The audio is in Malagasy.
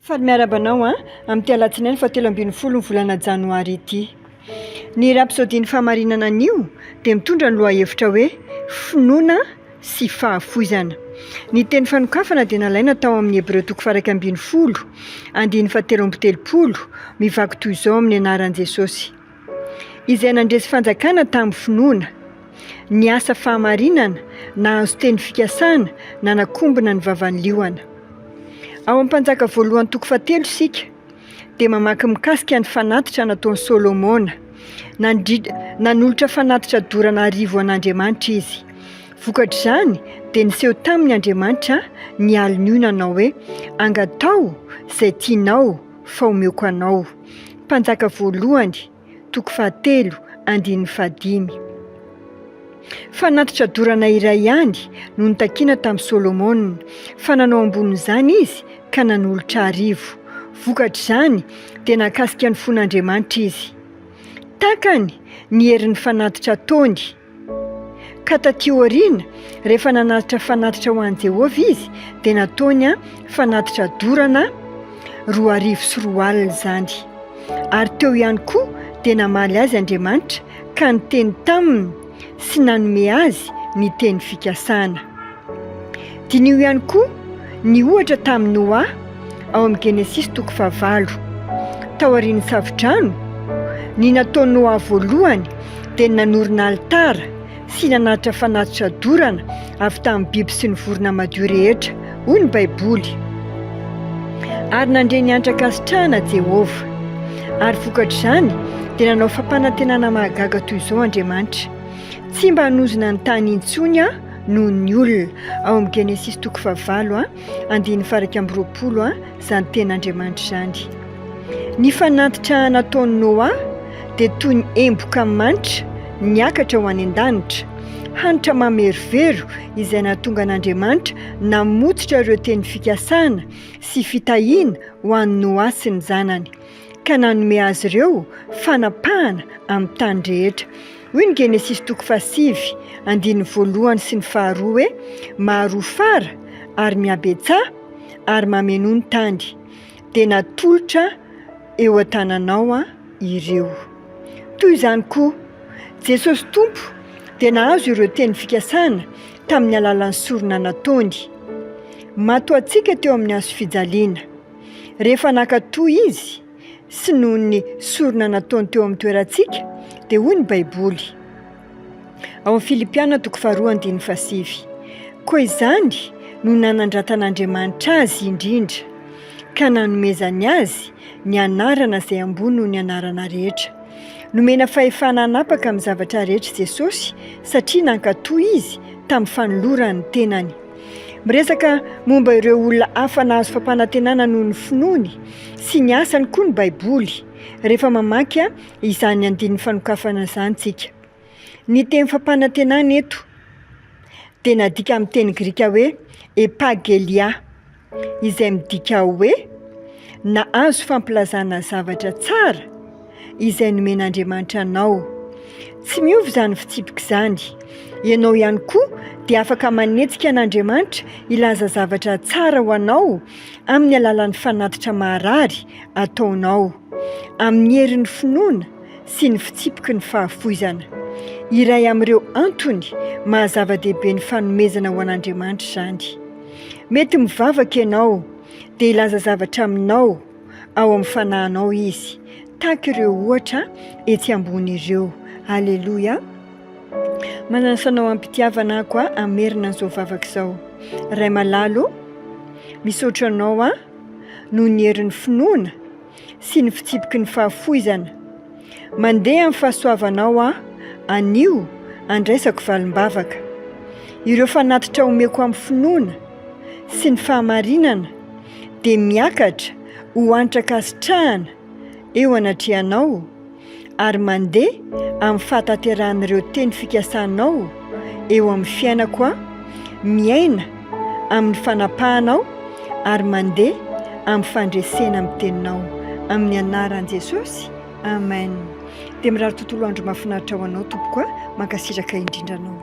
Faly miarahaba anao an! Amin'ity alatsinainy fahatelo ambin'ny folo ny volana janoary ity. Ny Rapsodian'ny fahamarinana anio dia mitondra ny lohahevitra hoe Finoana sy fahafoizana. Ny teny fanokafana dia nalaina tao amin'ny Hebreo toko faha-iraika ambin'ny folo, andininy fahatelo amby telopolo, mivaky toy izao amin'ny anaran'i Jesosy. izay nandresy fanjakana tamin'ny finoana. Ny asa fahamarinana nahazo teny fikasana nanakombona ny vavan'ny liona. Ao amin'ny Mpanjaka voalohany toko fahatelo isika dia mamaky mikasika ny fanatitra nataon'i Solomona. Nandri- Nanolotra fanatitra dorana arivo an'Andriamanitra izy. Vokatr'izany dia niseho taminy Andriamanitra ny alin'io nanao hoe, Angataho izay tianao, fa omeko anao. Mpanjaka voalohany, toko fahatelo, andininy fahadimy. Fanatitra dorana iray ihany no nitakiana tamin'i Solomona, fa nanao ambonin'izany izy ka nanolotra arivo. Vokatr'izany, dia nakasika ny fon'Andriamanitra izy. Takany ny herin'ny fanatitra ataony. Ka tatỳ aoriana, rehefa nanatitra fanatitra ho an'i Jehovah izy, dia nataony fanatitra dorana roa arivo sy roa alina izany. Ary teo ihany koa dia namaly azy Andriamanitra, ka niteny taminy sy nanome azy ny teny fikasana. Diniho ihany koa ny ohatra tamin'i Noa ao amin'ny Genesisy toko fahavalo. Taorian'ny Savodrano, ny nataon'i Noa voalohany dia ny nanorina alitara sy nanatitra fanatitra dorana avy tamin'ny biby sy ny vorona madio rehetra, hoy ny Baiboly. Ary nandre ny antra-kasitrahana Jehovah. Ary vokatr'izany, dia nanao fampanantenana mahagaga toy izao Andriamanitra, Tsy mba hanozona ny tany intsony aho, noho ny olona ao amin'ny Genesisy toko fahavalo andininy faha iraika amby roapolo izany ten'Andriamanitra izany. Ny fanatitra nataon'i Noa dia toy ny emboka manitra niakatra ho any an-danitra, hanitra mamerovero izay nahatonga an'Andriamanitra namotsitra ireo teny fikasana sy fitahiana ho an'i Noa sy ny zanany. ka nanome azy ireo fanapahana amin'ny tany rehetra. Hoy ny Genesisy toko fahasivy, andininy voalohany sy ny faharoa hoe, Maharoa fara ary mihabetsaha ary mamenoa ny tany, dia natolotra eo an-tananao aho ireo. Toy izany koa, Jesosy Tompo dia nahazo ireo teny fikasana tamin'ny alalan'ny sorona nataony. Matoa antsika teo amin'ny hazo fijaliana. Rehefa nankatò izy, sy noho ny sorona nataony teo amin'ny toerantsika, dia hoy ny Baiboly, ao amin'ny Filipiana toko faharoa andininy fahasivy, Koa izany no nanandratan'Andriamanitra azy indrindra, ka nanomezany azy ny anarana izay ambony noho ny anarana rehetra. Nomena fahefana hanapaka amin'ny zavatra rehetra i Jesosy, satria nankatò izy tamin'ny fanolorany ny tenany. Miresaka momba ireo olona hafa nahazo fampanantenana noho ny finoany sy ny asany koa ny Baiboly, rehefa mamaky izany andininy fanokafana izany isika. Ny teny fampanantenana eto dia nadika amin'ny teny grika hoe epa ge'liah. izay midika hoe nahazo fampilazana zavatra tsara izay nomen'Andriamanitra anao. Tsy miova izany fitsipika izany. Ianao ihany koa dia afaka manetsika an'Andriamanitra hilaza zavatra tsara ho anao amin'ny alalan'ny fanatitra maharary ataonao, amin'ny herin'ny finoana sy ny fitsipiky ny fahafoizana. Iray amin'ireo antony maha-zava-dehibe ny fanomezana ho an'Andriamanitra izany. Mety mivavaka ianao, dia hilaza zavatra aminao ao amin'ny fanahinao izy, tahaka ireo ohatra etsy ambony ireo. Aleloia! Manasa anao am-pitiavana aho koa hamerina an'izao vavaka izao. Ray malalo, misaotra anao aho noho ny herin'ny finoana. sy ny fitsipiky ny fahafoizana. Mandeha amin'ny fahasoavanao aho, anio, andraisako valim-bavaka. Ireo fanatitra omeko amin'ny finoana sy ny fahamarinana dia miakatra ho antra-kasitrahana eo anatrehanao, ary mandeha amin'ny fahatanterahan'ireo teny fikasanao eo amin'ny fiainako aho, miaina amin'ny fanapahanao ary mandeha amin'ny fandresena amin'ny teninao. Amin'ny anaran'i Jesosy, Amen. Dia mirary tontolo andro mahafinaritra ho anao tompoko a! Mankasitraka indrindra anao.